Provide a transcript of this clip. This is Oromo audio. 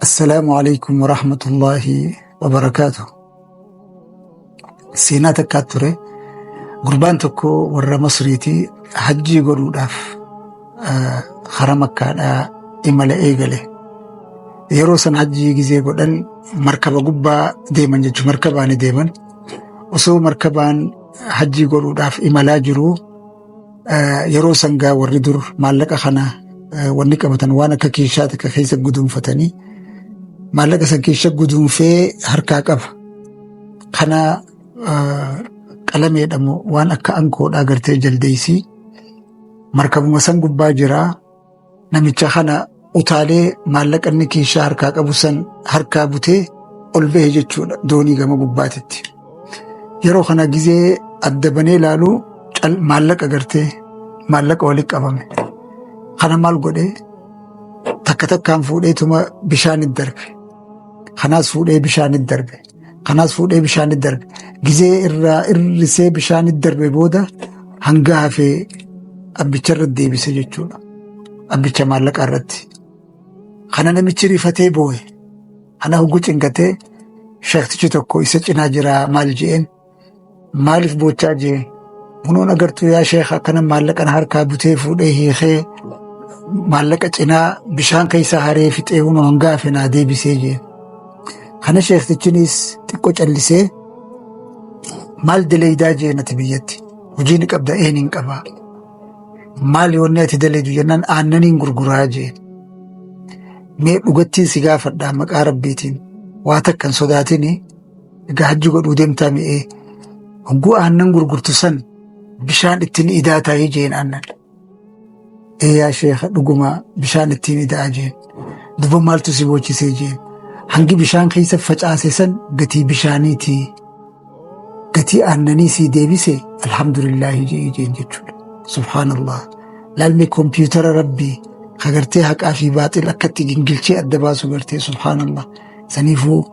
Assalaamu alaikum wa rahmatullahi wa barakaatu. Seenaa takkaa ture gurbaan tokko warra Masriitii hajjii godhuudhaaf ah, hara makkaadhaa imala eegale. Yeroo san hajjii gizee godhan markaba gubbaa deeman jechuun markabaani deeman. Osoo markabaan hajjii godhuudhaaf imalaa jiru Eh, Yeroo sangaa warri dur maallaqa kana eh, wanni qabatan waan akka keeshaa takka keessa guduunfatanii maallaqa san keessa guduunfee harkaa qaba. Kana eh, qalameedhamu waan akka ankoodhaa gartee jaldeessii markabuma san gubbaa jiraa Namicha kana utaalee maallaqa inni kiishaa harkaa qabu san harkaa butee ol bahe jechuudha doonii gama gubbaatitti. Yeroo kana gizee adda banee ilaalu cal maallaqa gartee maallaqa walitti qabame. Kana maal godhee takka takkaan fuudheetuma bishaanitti darbe. Kanaas fuudhee bishaanitti darbe. Kanas fuudhee bishaanitti darbe. Gizee irraa irrisee bishaanitti darbe booda hanga hafee abbicha irratti deebise jechuudha. Abbicha maallaqaa irratti. Kana namichi rifatee boo'e. Ana hoggu cinqatee shaktichi tokko isa cinaa jiraa maal je'een maaliif boochaa jee munoon agartuu yaa sheekha akkana maallaqan harkaa butee fuudhee hiikee maallaqa cinaa bishaan keessa haree fixee huma hangaa fenaa deebisee jee kana sheektichinis xiqqo callisee maal daleeydaa jee nati biyyatti hojii ni qabda een hin qabaa maal yoonni ati daleeydu jennaan aannaniin gurguraa jee mee dhugattiin si gaafadhaa maqaa rabbiitiin waa takkan sodaatini Egaa hajji godhuu deemtaa mi'ee hogguu aannan gurgurtu san bishaan ittiin idaa taa'ee jeen aannan. Ee yaa sheekha dhugumaa bishaan ittiin idaa jeen. Duba maaltu si boochisee jeen. Hangi bishaan keessa facaase san gatii bishaaniiti. Gatii aannanii sii deebise alhamdulillaahi jee jeen jechuudha. Subhaanallah. Laalmee kompiitara rabbii kagartee haqaa fi baaxil akkatti gingilchee adda baasu gartee subhaanallah. Saniifuu